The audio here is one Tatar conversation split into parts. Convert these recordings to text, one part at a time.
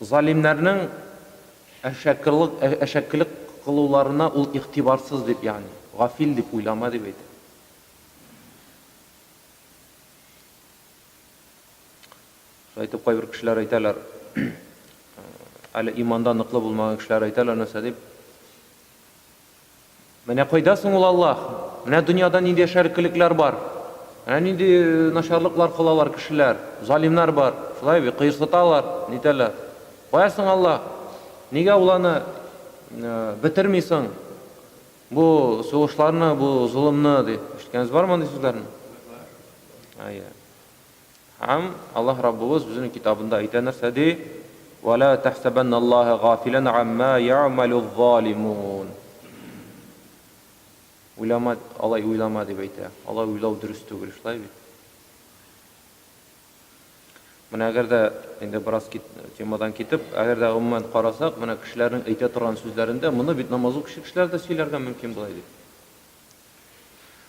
Залимнәрнең әшәкелык, әшәкелек кылуларына ул игътибарсыз дип, ягъни, гафил дип уйлама дип әйтә. Шулай итеп, кайбер кешеләр әйтәләр, әле иманда ныклы булмаган кешеләр әйтәләр нәрсә дип, Менә кайда соң ул Аллаһ? Менә дөньяда нинди яшәркелекләр бар, менә нинди начарлыклар кылалар кешеләр, залимнар бар, шулай бит, кыерсыталар, нитәләр. Кая соң Аллаһ? Нигә ул аны бетерми соң? Бу сугышларны, бу золымны, ди. Ишеткәнегез бармы андый сүзләрне? Әйе. Һәм Аллаһ Раббыбыз Үзенең Китабында әйтә, нәрсә ди? Вә лә тәхсәбәннә Аллаһа гафилән гаммә я'мәлүз-залимун. Уйлама, алай уйлама, дип әйтә. Алай уйлау дөрес түгел, шулай бит? Менә әгәр дә инде бераз кит, темадан китеп, әгәр дә гомумән карасак, менә кешеләрнең әйтә торган сүзләрендә, моны бит намазлы кеше кешеләр дә сөйләргә мөмкин була ди.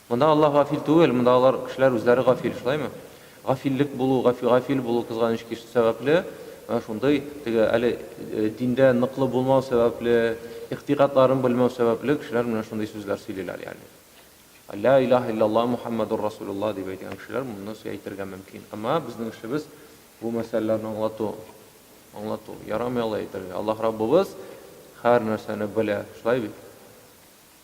Монда Аллаһ гафил түгел, монда алар, кешеләр, үзләре гафил, шулаймы? Гафиллек булу, гафи, гафил булу, кызганыч кич, сәбәпле, менә шундый, теге, әле диндә ныклы булмау сәбәпле, игътикадларын белмәү сәбәпле, кешеләр менә шундый сүзләр сөйлиләр, ягъни. Лә илаһа илляллаһ Мухаммадур расулуллаһ дип әйтгән кешеләр моны сө әйтергә мөмкин. Әмма безнең эшебез бу мәсьәләләрне аңлату. Аңлату. Ярамый алай әйтергә. Аллаһ Раббыбыз һәр нәрсәне белә. Шулай бит?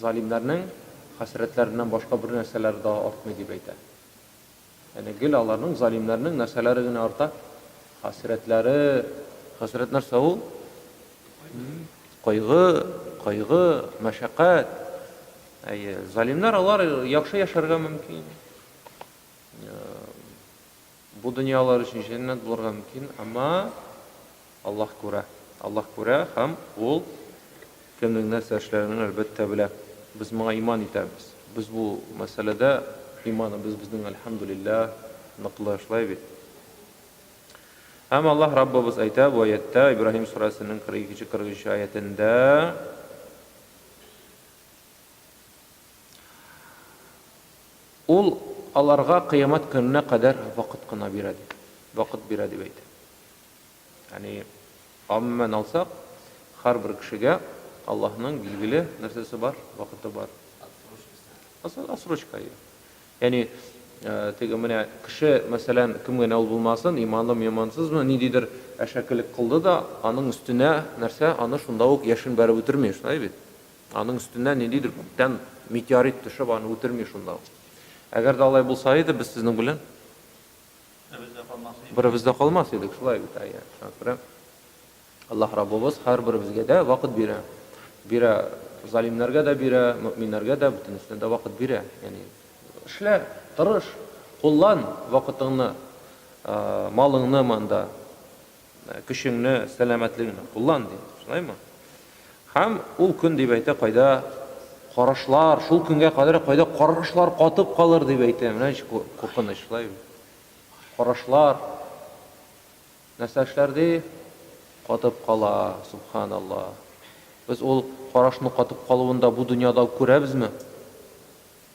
Залимнәрнең хәсрәтләреннән башка бер нәрсәләре дә артмый, дип әйтә. Әнә гел аларның, залимнәрнең, нәрсәләре генә арта? Хәсрәтләре. Хәсрәт нәрсә ул? Кайгы, кайгы, мәшәкать. Әйе, залимнәр алар яхшы яшәргә мөмкин. Бу дөнья алар өчен җәннәт булырга мөмкин, әмма Аллаһ күрә. Аллаһ күрә һәм Ул кемнең нәрсә эшләгәнен, әлбәттә, белә. Без моңа иман итәбез. Без бу мәсьәләдә иманыбыз безнең, әлхәмдүлилләһ, ныклы шулай бит? Һәм Аллаһ Раббыбыз әйтә бу аятьтә, Ибраһим сүрәсенең 42 нче-43 нче аятендә, Ул аларга кыямәт көненә кадәр вакыт кына бирә дип, вакыт бирә дип әйтә. Ягъни, гомумән алсак, һәрбер кешегә Аллаһның билгеле нәрсәсе бар, вакыты бар. Отсрочкасы. Отсрочка, ия. Ягъни, теге менә кеше, мәсәлән, кем генә ул булмасын, иманлымы, имансызмы, ниндидер әшәкелек кылды да, аның өстенә нәрсә, аны шунда ук яшен бәреп үтерми, шулай бит? Аның өстенә ниндидер күктән метеорит төшеп, аны үтерми шунда ук. Әгәр дә алай булса иде, без сезнең белән беребез дә калмас идек, шулай бит, әйе, шуңа күрә Аллаһ Раббыбыз һәрберебезгә дә вакыт бирә. Бирә, залимнәргә дә бирә, мөэминнәргә дә, бөтенесенә дә вакыт бирә. Ягъни, эшлә, тырыш, куллан вакытыңны, малыңны монда, Көчеңне, сәламәтлегеңне куллан, ди. Шулаймы? Һәм ул көн дип әйтә, кайда карашлар, шул көнгә кадәр кайда карашлар катып калыр дип әйтә. Менә ничек куркыныч, шулай бит. Карашлар нәрсә эшләр ди? Катып кала, субханалла. Без ул карашның катып калуын да бу дөньяда күрәбезме?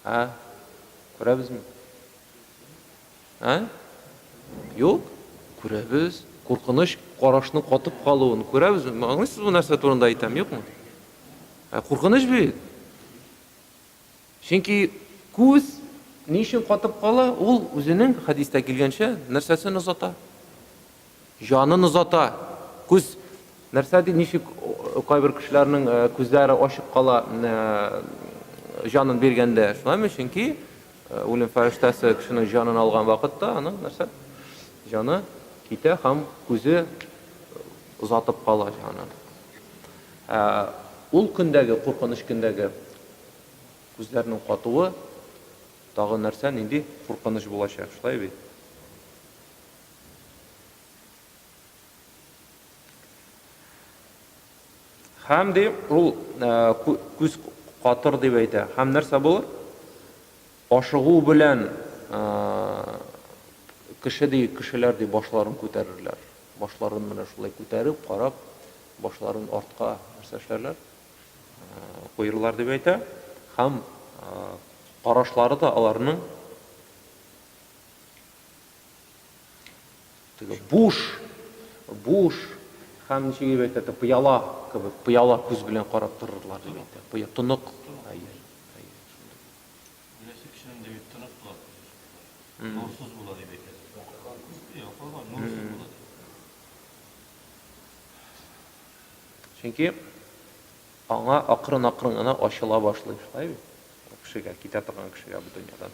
Ә? Күрәбезме? Ә? Юк, күрәбез, куркыныч карашның катып калуын күрәбез. Аңлыйсызмы, нәрсә турында әйтәм, юкмы? Ә куркыныч бит. Чөнки күз ни өчен катып кала? Ул үзенең хәдистә килгәнчә нәрсәсен озата? Җанын озата. Күз. Нәрсә ди, ничек кайбер кешеләрнең күзләре ачык кала җанын биргәндә? Шулаймы? Чөнки үлем фәрештәсе кешенең җанын алган вакытта аның нәрсә? Җаны китә һәм күзе озатып кала җанын. Ә ул көндәге, куркыныч көндәге күзләрнең катуы тагын нәрсә, нинди куркыныч булачак, шулай бит? Хәм ди, ул күз катыр дип әйтә. Хәм нәрсә булыр? Ашыгу белән кеше ди, кешеләр ди башларын күтәрерләр. Башларын менә шулай күтәреп, карап, башларын артка нәрсә эшләрләр? Куерлар дип әйтә. Хәм карашлары да аларның Теге буш, буш һәм ничек дип әйтә, тә пыяла кебек, пыяла күз белән карап торырлар дип әйтә. Пыя тонык. Әйе. Әйе. Бересе кешенең дәвит тонык була. Нурсыз була дип әйтә. Якларга нурсыз була. Чөнки аңа акрын-акрын гына ачыла башлый, шулай бит? Кешегә, китә торган кешегә бу дөньядан.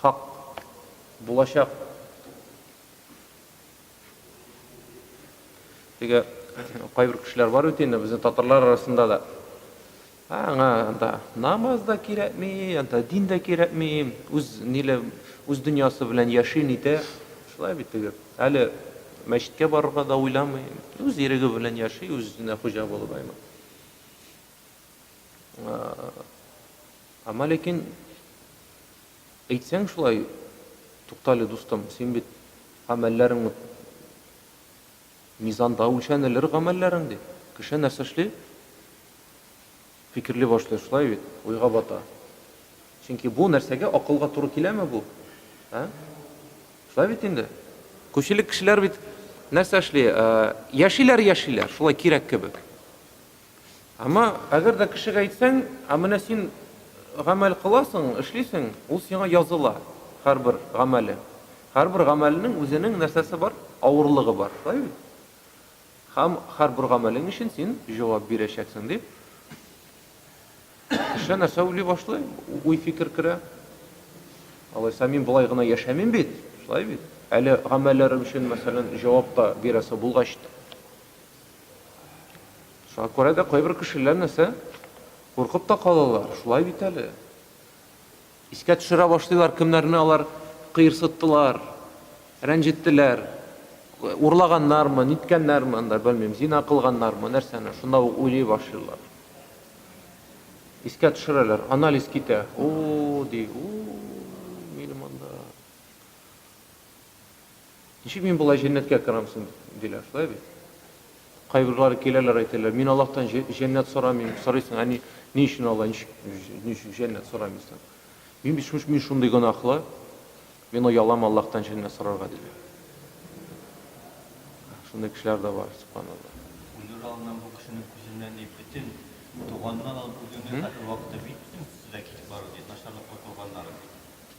Хак. Булачак. Теге кайбер кешеләр бар бит инде безнең татарлар арасында да. Аңа анда намаз да кирәкми, анда дин дә кирәкми, үз ниле, үз дөньясы белән яши нитә. Шулай бит теге. Әле мәчеткә барырга да уйламый. Үз иреге белән яши, үзенә хуҗа булып аймы. Әмма ләкин әйтсәң шулай, туктале дустым, син бит гамәлләрең мизанда үлчәнелер гамәлләрең ди. Кеше нәрсә эшли? Фикерли башлый шулай бит, уйга бата. Чөнки бу нәрсәгә акылга туры киләме бу? Ә? Шулай бит инде. Күпчелек кешеләр бит нәрсә эшли? Яшиләр, яшиләр, шулай кирәк кебек. Әмма әгәр дә кешегә әйтсәң, ә менә син гамәл кыласың, эшлисең, ул сиңа языла, һәрбер гамәле. Һәрбер гамәлнең үзенең нәрсәсе бар? Авырлыгы бар, шулай бит? Һәм һәрбер гамәлең өчен син җавап бирәчәксең, дип, кеше нәрсә уйлый башлый, уй-фикер керә. Алайса мин болай гына яшәмим бит, шулай бит? Әле гамәлләрем өчен, мәсәлән, җавап та бирәсе булгач та. Шуңа күрә дә кайбер кешеләр нәрсә? Куркып та калалар, шулай бит әле. Искә төшерә башлыйлар, кемнәрне алар кыерсыттылар, рәнҗеттеләр, урлаганнармы, ниткәннәрме, анда белмим, зина кылганнармы, нәрсәне, шунда ук уйлый башлыйлар. Искә төшерәләр, анализ китә. О, ди, у, минем анда. Ничек мин болай җәннәткә керам соң? диләр. Шулай бит? Кайберләре киләләр, әйтәләр, мин Аллаһтан җәннәт сорамыйм. Сорыйсың, ә ни, ни өчен Алла, ничек, ничек җәннәт сорамыйсың? Мин бит шуш, мин шундый гөнаһлы, мин оялам Аллаһтан җәннәт сорарга, диләр. Шундый кешеләр дә бар, субханалла. Үлер алдыннан бу кешенең күзеннән ни бөтен туганнан алып үзеңне хәзер вакытта бит бөтен сүзләр китеп бара, бит начарлыклы туганнар.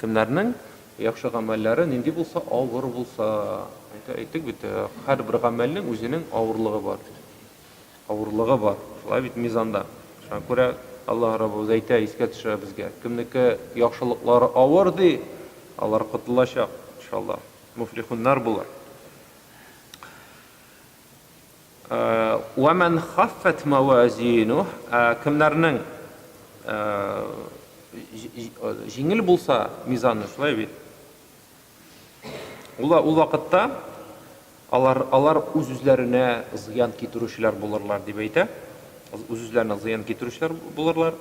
Кемнәрнең яхшы гамәлләре нинди булса, авыр булса, әйтә әйттек бит, һәрбер гамәлнең үзенең авырлыгы бар. Авырлыгы бар. Шулай бит мизанда. Шуңа күрә Аллаһ Раббыбыз әйтә, искә төшерә безгә. Кемнеке яхшылыклары авыр, ди, алар котылачак, иншаллаһ, муфлихуннар булыр. Вә мән хаффәт мәвәзинүһ, кемнәрнең җиңел булса мизаны, шулай бит? Ул ул вакытта алар алар үз-үзләренә зыян китерүчеләр булырлар дип әйтә. Үз-үзләренә зыян китерүчеләр булырлар.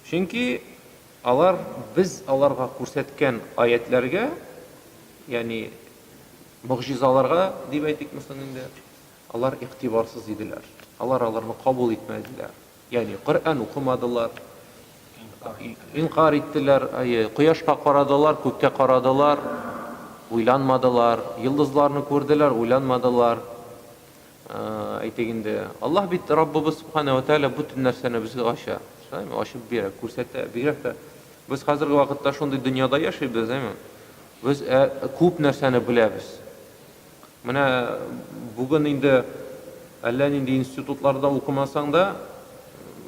Чөнки алар без аларга күрсәткән аятьләргә, ягъни могҗизаларга дип әйтикме соң инде, алар игътибарсыз иделәр. Алар аларны кабул итмәделәр. Ягъни Коръән укымадылар, инкар иттеләр, әйе, кояшка карадылар, күккә карадылар, уйланмадылар, йолдызларны күрделәр, уйланмадылар. Әйтик инде, Аллаһ бит, Раббыбыз Сүбхәнә вә Тәгалә бөтен нәрсәне безгә ача, шулаймы? Ачып бирә, күрсәтә. Бигрәк тә без хәзерге вакытта шундый дөньяда яшибез, әйме? Без ә, күп нәрсәне беләбез. Менә бүген инде әллә нинди институтларда укымасаң да,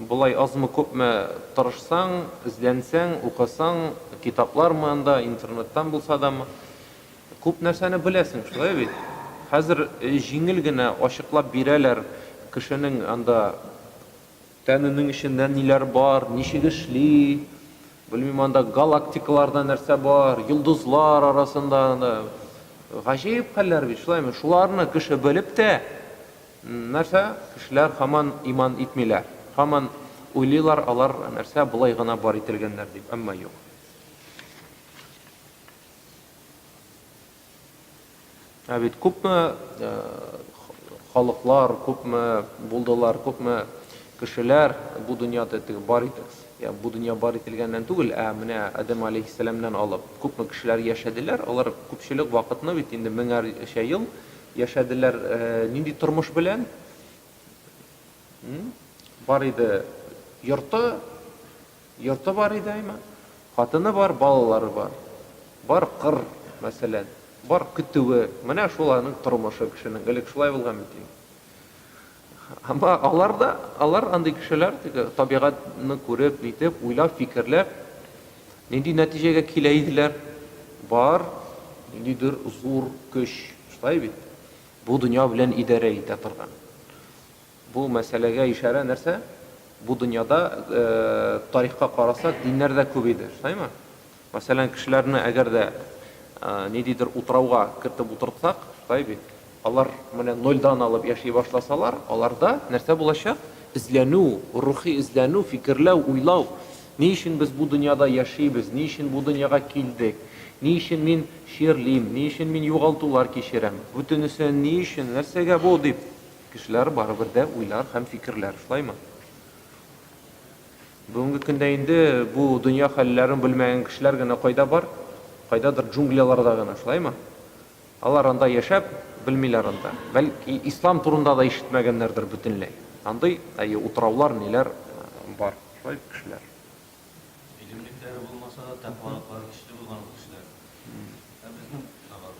болай азмы-күпме тырышсаң, эзләнсәң, укысаң, китаплармы анда, интернеттан булса дамы, Күп нәрсәне беләсең, шулай бит? Хәзер җиңел генә ачыклап бирәләр кешенең анда тәненең эчендә ниләр бар, ничек эшли, белмим, анда галактикаларда нәрсә бар, йолдызлар арасында анда гаҗәеп хәлләр бит, шулаймы? Шуларны кеше белеп тә, нәрсә, кешеләр һаман иман итмиләр, һаман уйлыйлар, алар нәрсә, болай гына бар ителгәннәр дип, әмма юк. Ә бит күпме халыклар, күпме булдылар, күпме кешеләр бу дөньяда теге бар итеп, я бу дөнья бар ителгәннән түгел, ә менә Адәм алейһиссәламнән алып күпме кешеләр яшәделәр, алар күпчелек вакытны бит инде меңәрчә ел яшәделәр нинди тормыш белән? Бар иде йорты, Йорты бар иде, әйма. Хатыны бар, балалары бар. Бар кыр, мәсәлән. Бар көтүе. Менә шул аның тормышы кешенең. Элек шулай булган бит инде. Ама алар да, алар андый кешеләр, теге табигатьне күреп, нитеп, уйлап, фикерләп, нинди нәтиҗәгә килә иделәр? Бар ниндидер зур көч, шулай бит? Бу дөнья белән идарә итә торган. Бу мәсьәләгә ишарә нәрсә? Бу дөньяда тарихка карасак, диннәр дә күбәйде, шулаймы? Мәсәлән, кешеләрне әгәр дә ниндидер утрауга кертеп утыртсак, шулай бит, алар менә нольдан алып яши башласалар, аларда нәрсә булачак? Эзләнү, рухи эзләнү, фикерләү, уйлау. Ни өчен без бу дөньяда яшибез, ни өчен бу дөньяга килдек, ни өчен мин чирлим, ни өчен мин югалтулар кичерәм, бөтенесе ни өчен, нәрсәгә бу, дип. Кешеләр барыбер дә уйлар һәм фикерләр, шулаймы? Бүгенге көндә инде бу дөнья хәлләрен белмәгән кешеләр генә кайда бар? Кайдадыр джунгляларда гына, шулаймы? Алар анда яшәп, белмиләр анда. Бәлки, ислам турында да ишетмәгәннәрдер бөтенләй. Андый, әйе, утраулар, ниләр бар, шулай бит, кешеләр? Гыйлемлекләре булмаса да, тәкъвалыклары көчле булган ул кешеләрнең. Ә безнең, наоборот.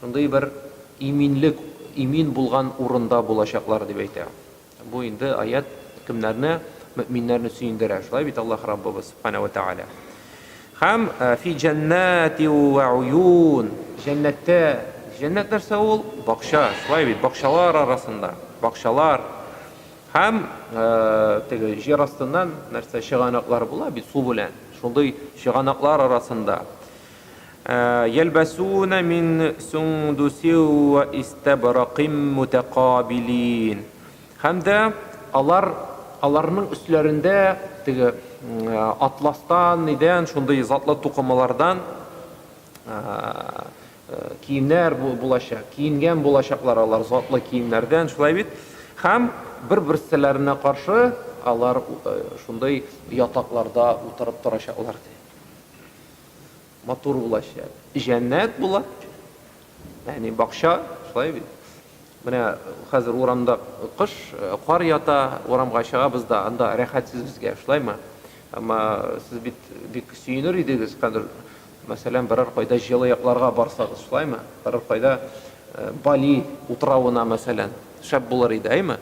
Шундый бер иминлек, имин булган урында булачаклар, дип әйтә. Бу инде аять кемнәрне, мөэминнәрне сөендерә. Шулай бит Аллаһ Раббыбыз, Субхана ва Тәгалә. Һәм фи җәннәти вә уюн. Җәннәттә, җәннәт нәрсә ул? Бакча, шулай бит, бакчалар арасында, бакчалар. Һәм теге җир астыннан нәрсә чыганаклар була бит су белән. Шундый чыганаклар арасында. Йәлбәсүнә мин сөңдүсе вә истәбраким мөтәкабилин. Һәм дә алар, аларның өсләрендә теге атластан, нидән, шундый затлы тукымалардан киемнәр булачак, киенгән булачаклар алар затлы киемнәрдән, шулай бит? Һәм бер-берселәренә каршы алар шундый ятакларда утырып торачаклар, ди. матур булачак. Җәннәт була. Ягъни бакча, шулай бит. Менә хәзер урамда кыш, кар ята, урамга чыгабыз да, анда рәхәтсез безгә, шулаймы? Әмма сез бит бик сөенер идегез, хәзер, мәсәлән, берәр кайда җылы якларга барсагыз, шулаймы? Берәр кайда Бали утравына, мәсәлән, шәп булыр иде, әйме?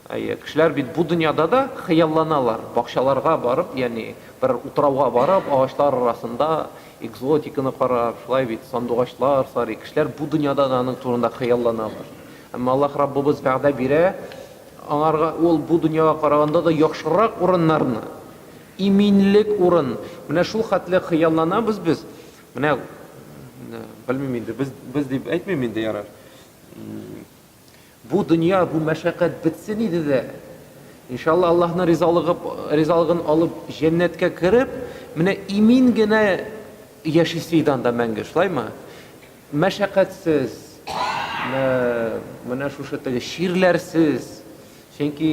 Әйе, кешеләр бит бу дөньяда да хыялланалар, бакчаларга барып, ягъни бер утрауга барып, агачлар арасында экзотиканы карап, шулай бит, сандугачлар сарый, кешеләр бу дөньяда да аның турында хыялланалар. Әмма Аллаһ Раббыбыз вәгъдә бирә, аңарга ул бу дөньяга караганда да яхшырак урыннарны, иминлек урын, менә шул хәтле хыялланабыз без, менә, белмим инде, без, без дип әйтмим инде, ярар, Бу дөнья, бу мәшәкать бетсен иде дә. Иншалла, Аллаһның ризалыгы, ризалыгын алып, җәннәткә кереп, менә имин генә яшисе иде анда мәңге, шулаймы? Мәшәкатьсез, менә шушы теге чирләрсез. Чөнки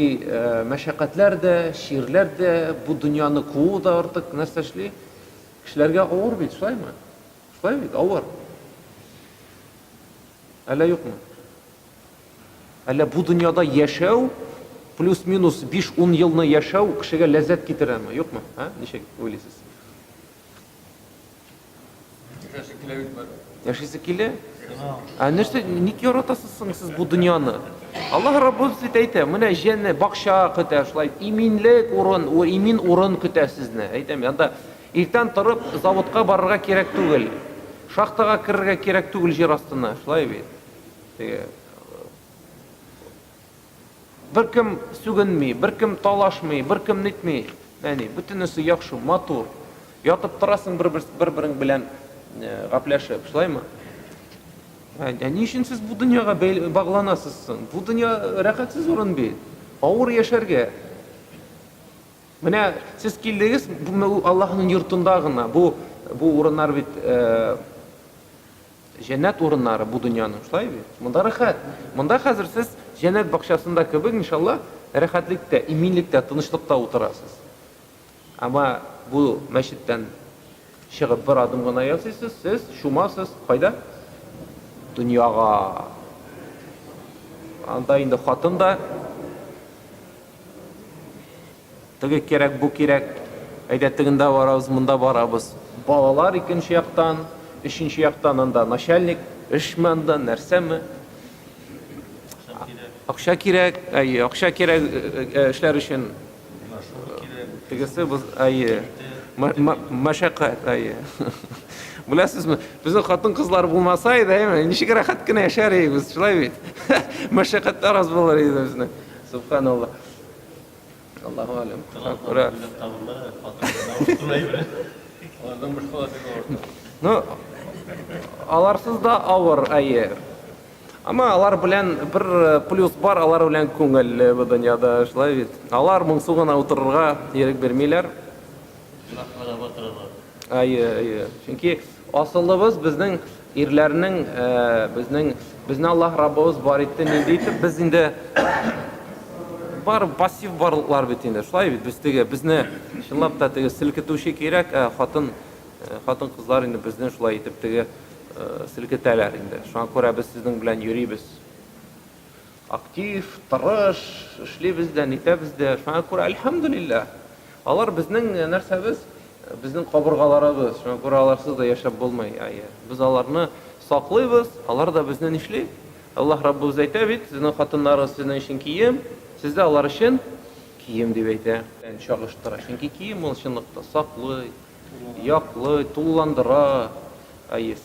мәшәкатьләр дә, чирләр дә, бу дөньяны куу да артык нәрсә эшли? Кешеләргә авыр бит, шулаймы? Шулай бит, авыр. Әллә юкмы? Әллә бу дөньяда яшәү, плюс-минус 5-10 елны яшәү кешегә ләззәт китерәме, юкмы? Ә? Ничек уйлыйсыз? Яшәсе килә бит бары. Яшәсе килә? Ә нәрсә, ник яратасыз соң сез бу дөньяны? Аллаһ Раббыбыз бит әйтә, менә җәннәт бакча көтә, шулай иминлек урын, имин урын көтә сезне. Әйтәм, анда Иртән торып, заводка барырга кирәк түгел, шахтага керергә кирәк түгел җир астына, шулай бит. Теге Беркем сүгенми, беркем талашмый, беркем нитми. Әни, бүтенесе яхшы, матур. Ятып торасың бер-берең белән гапләшеп, шулаймы? Ә ни өчен сез бу дөньяга багланасыз соң? Бу дөнья рәхәтсез урын бит. Авыр яшәргә. Менә сез килдегез, бу Аллаһның йортында гына, бу бу урыннар бит җәннәт урыннары бу дөньяның, шулай бит? Монда рәхәт. Монда хәзер сез җәннәт бакчасында кебек, иншалла, рәхәтлектә, иминлектә, тынычлыкта утырасыз. Ама бу мәчеттән чыгып бер адым гына ясыйсыз, сез шумасыз, кайда? Дөньяга. Анда инде хатын да Теге кирәк, бу кирәк. Әйдә, тегендә барабыз, монда барабыз. Балалар икенче яктан, өченче яктан анда начальник, эшме анда, нәрсәме? Акча кирәк, әйе, акча кирәк эшләр өчен. Тегесе, әйе, мәшәкать, әйе. Беләсезме, безнең хатын-кызлар булмаса иде, әйме, ничек рәхәт кенә яшәр идек без, шулай бит? Мәшәкатьләр аз булыр иде безнең. Субханалла. Аллаху алем. Күрә. Ну, аларсыз да авыр, әйе. Ама алар белән бер э, плюс бар, алар белән күңелле бу дөньяда, шулай бит. Алар моңсу гына утырырга ирек бирмиләр. Әйе, әйе. Чөнки асылыбыз безнең ирләрнең безнең безне Аллаһ Раббыбыз бар итте нинди итеп без инде бар пассив барлыклар бит инде. Шулай бит без теге безне чынлап та теге селкетүче кирәк, ә хатын хатын кызлар инде безне шулай итеп теге селкетәләр инде. Шуңа күрә без сезнең белән йөрибез. Актив, тырыш эшлибез дә, нитәбез дә. Шуңа күрә, әлхәмдүлилләһ! Алар безнең нәрсәбез, безнең кабыргаларыбыз. Шуңа күрә аларсыз да яшәп булмый. Әйе, без аларны саклыйбыз, алар да безне нишли? Аллаһ Раббыбыз әйтә бит, Сезнең хатыннарыгыз сезнең өчен кием, сез дә алар өчен кием, дип әйтә. Чагыштыра. Чөнки кием ул чынлыкта саклый. Яклый, тулыландыра,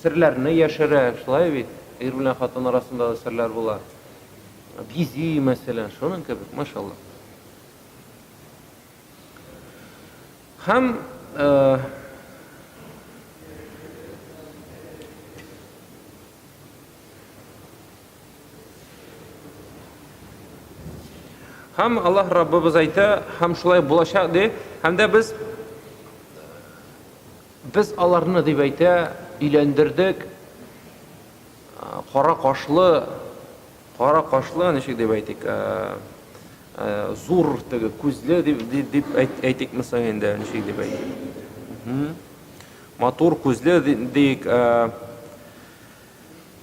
серләрне яшерә, шулай бит? Ир белән хатын арасында да серләр була. Бизи, мәсәлән, шуның кебек, машалла. Һәм Һәм Аллаһ Раббыбыз әйтә, һәм шулай булачак ди. Һәм дә без без аларны дип әйтә, өйләндердек. Кара кашлы, кара кашлы, ничек дип әйтик, зур теге күзле дип дип әйтик мисаң инде, ничек дип әйтик. Матур күзле дип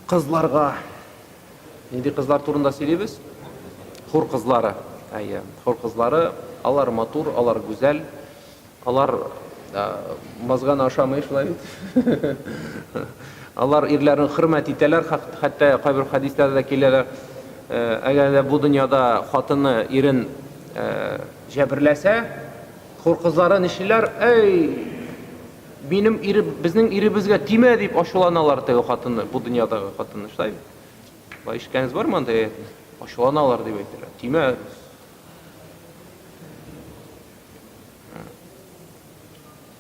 Кызларга, нинди кызлар турында сөйлибез? Хур кызлары. Әйе, хур кызлары, алар матур, алар гүзәл, алар мазганы ашамый шулай бит. Алар ирләрен хөрмәт итәләр, хәтта кайбер хәдисләрдә дә киләләр. Әгәр дә бу дөньяда хатыны ирен җәберләсә, хур кызлары нишлиләр? Әй, Минем ире, безнең иребезгә тимә, дип ачуланалар теге хатыны, бу дөньядагы хатыны, шулай бит? Шулай ишеткәнегез бармы андый әйтне? Ачуланалар дип әйтәләр. Тимә.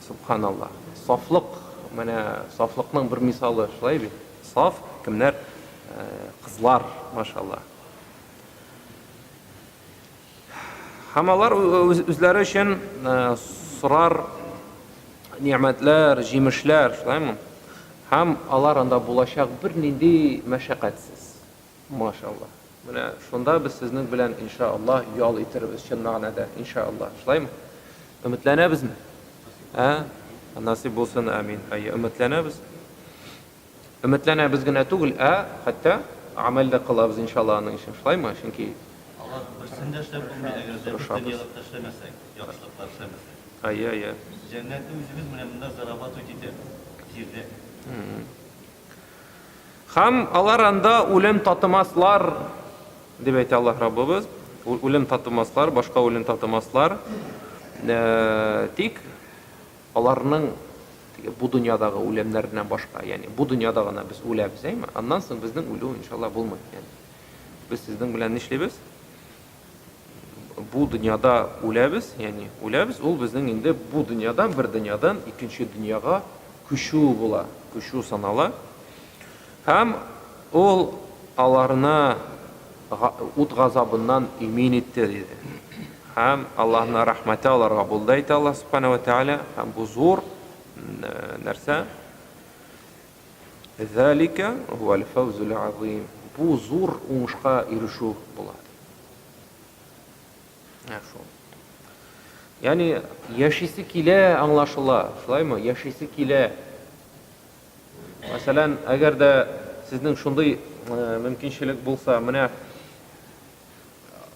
Субханаллаһ. Сафлык, менә сафлыкның бер мисалы, шулай бит? Саф кемнәр? Кызлар, машаллаһ. Һәм алар үзләре өчен сорар нигъмәтләр, җимешләр, шулаймы? Һәм алар анда булачак бернинди мәшәкатьсез. Машалла. Менә шунда без сезнең белән иншааллаһ ял итербез чын мәгънәдә, иншааллаһ. Шулаймы? Өметләнәбезме? Ә? Насыйп булсын, амин. Әйе, өметләнәбез. Өметләнәбез генә түгел, ә, хәтта, гамәл дә кылабыз, иншалла, аның өчен. Шулаймы? Чөнки. Алар берсен дә эшләп булмый, әгәр дә без дөньялык та эшләмәсәк, яхшылыклар эшләмәсәк. Әйе, әйе. Без җәннәтне үзебез менә монда зарабатывать итәбез, җирдә. Һәм алар анда үлем татымаслар, дип әйтә Аллаһ Раббыбыз. Үлем татымаслар, башка үлем татымаслар. Тик Аларның теге бу дөньядагы үләмнәреннән башка, ягъни бу дөньяда гына без үләбез, әйме? Аннан соң безнең үлү, иншалла, булмый, ягъни без сезнең белән нишлибез? Бу дөньяда үләбез, ягъни үләбез, ул безнең инде бу дөньядан бер дөньядан икенче дөньяга күчү була, күчү санала. Һәм Ул аларны ут газабыннан имин итте, диде. Һәм Аллаһның рәхмәте аларга булды, әйтә Аллаһ Субхана ва Тәгалә, һәм бу зур нәрсә. Залика валь фаузул азим. Бу зур уңышка ирешү була. Шул. Яни яшисе килә, аңлашыла. Шулаймы? Яшисе килә. Мәсәлән, әгәр дә сезнең шундый мөмкинчелек булса, менә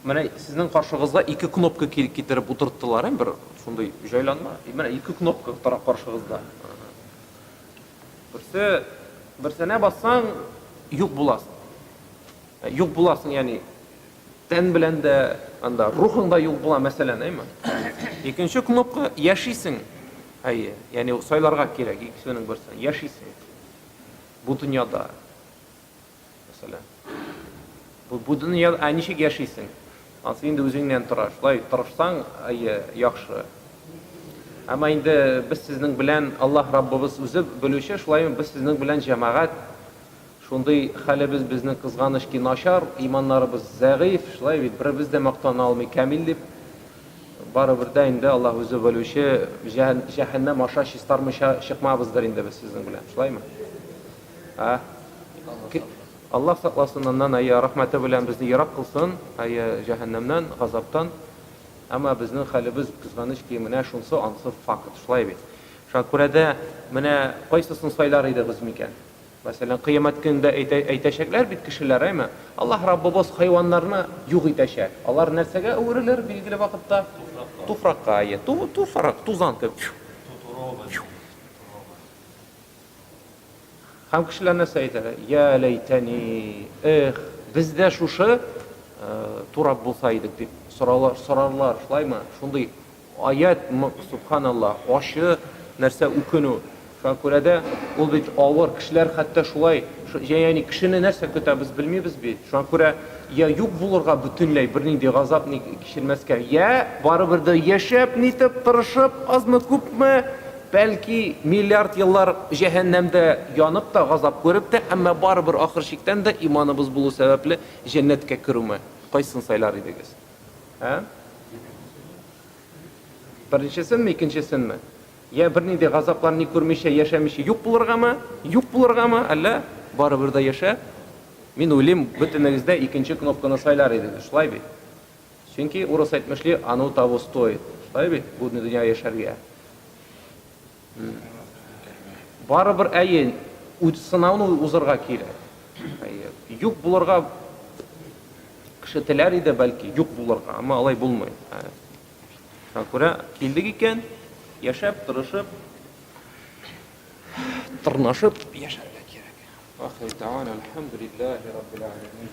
менә сезнең каршыгызга ике кнопка китереп утырттылар, ә бер шундый җайланма, менә ике кнопка тора каршыгызда. Берсе берсенә бассаң, юк буласың. Юк буласың, ягъни Тән белән дә, анда рухың да юк була, мәсәлән, әйме? Икенче кнопка, яшисең. Әйе, яни сайларга кирәк икесенең берсен, яшисең. Бу дөньяда. Мәсәлән. Бу, бу дөньяда, ә ничек яшисең? Ансы инде үзеңнән тора. Шулай тырышсаң, әйе, яхшы. Әмма инде без сезнең белән Аллаһ Раббыбыз үзе белүче, шулай без сезнең белән җәмәгать Шундый хәлебез безнең кызганыч ки начар, иманнарыбыз зәгыйфь, шулай бит, беребез дә мактана алмый камил дип. Барыбер дә инде Аллаһ үзе белүче, җәһәннәм аша чистармыйча чыкмабыздыр инде без сезнең белән, шулаймы? Ә? Аллаһ сакласын аннан, әйе, рәхмәте белән безне ерак кылсын, әйе, җәһәннәмнән, газаптан. Әмма безнең хәлебез кызганыч ки менә шунсы, ансы факт, шулай бит. Шуңа күрә дә менә кайсысын сайлар идегез микән? Мәсәлән, Кыямәт көнендә әйтәчәкләр бит кешеләр, әйме? Аллаһ Раббыбыз хайваннарны юк итәчәк. Алар нәрсәгә әверелер билгеле вакытта? Туфракка. Әйе, туфрак, тузан кебек. Һәм кешеләр нәрсә әйтәләр? Я ләйтәни, эх, без дә шушы э, турап булса идек дип сорарлар, сорарлар, шулаймы? Шундый Аять мы, субханалла, ачы нәрсә үкенү шуңа күрә дә ул бит авыр, кешеләр хәтта шулай янәни кешене нәрсә көтә без белмибез бит шуңа күрә йә юк булырга бөтенләй бернинди газап ни кичермәскә йә барыбер дә яшәп нитеп тырышып азмы күпме бәлки миллиард еллар җәһәннәмдә янып та газап күреп тә әмма барыбер ахыр чиктән дә иманыбыз булу сәбәпле җәннәткә керүме кайсын сайлар идегез. Ә? Беренчесенме, икенчесенме? Я берни дә газаплар ни күрмичә, яшәмичә юк булыргамы? Юк булыргамы? Әллә барыбер дә яшә? Мин уйлыйм, бөтенегез дә икенче кнопканы сайлар идегез, шулай бит? Чөнки урыс әйтмешли, оно того стоит. Шулай бит? Бу дөнья яшәргә. Барыбер, әйе, үз сынауны узырга кирәк. Әйе, юк булырга кеше теләр иде, бәлки, юк булырга, әмма алай булмый. Шуңа күрә килдек икән, яшәп, тырышып, тырнашып яшәргә кирәк. Ахир дәван, альхамдулиллахи раббил алямин.